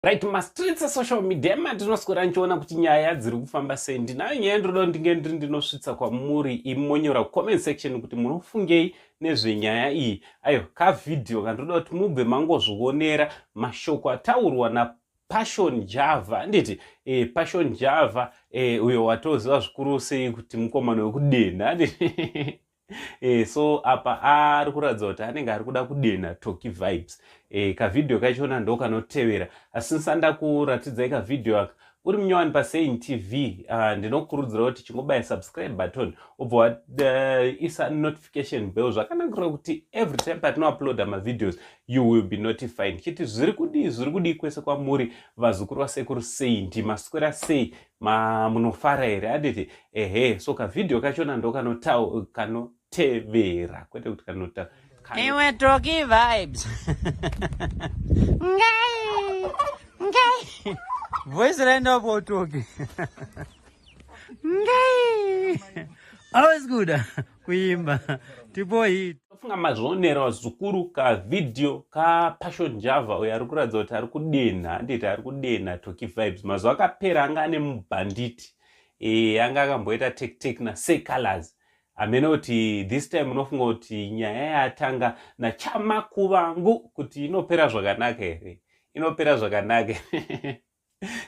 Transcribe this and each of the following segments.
right mastreets esocial media ematinoswera ndichiona kuti nyaya dziri kufamba sei ndinayo nyaya ndinoda ndinge ndiri ndinosvitsa kwamuri imonyora kucomment section kuti munofungei nezvenyaya iyi ayo kavhidhiyo kandinoda kuti mubve mangozvionera mashoko ataurwa na passion java handiti e, passion java e, uyo watoziva zvikuru sei kuti mukomana wekudenha handiti e, so apa ari kuratidza kuti anenge ari kuda kudenha toki vibes e, kavhidhiyo kachona ndo kanotevera asi nsanda kuratidzai kavhidhiyo aka uri munyowani pasein tv ah, ndinokurudzira kuti chingobaya subscribe button ubva waisa eh, notification bell zvakanakira kuti every time patinouploada mavideos you will be notified chiti zviri kudii zviri kudii kwese kwamuri vazukuru vasekuru sei ndimaswera sei Ma munofara here? Handiti ehe. So kavideo kachona ndokanotevera kwete kuti kanota iwe toki vibes ngai ngai voice raenda po toki ngai always good kuimba tipo hit funga mazvionera vazukuru ka video ka passion java uyo ari kuratidza kuti ari kudenha handiti ari kudenha toki vibes mazuva akapera anga ane mubhanditi e, anga akamboita tektek na se colors hamene kuti this time unofunga kuti nyaya yatanga nachamakuvangu kuti inopera zvakanaka here inopera zvakanaka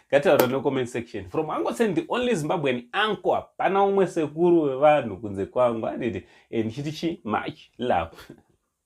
ngataura no comment section from ango send the only zimbabwean anko hapana umwe sekuru wevanhu kunze kwangu anditi e eh, ndichiti chi much love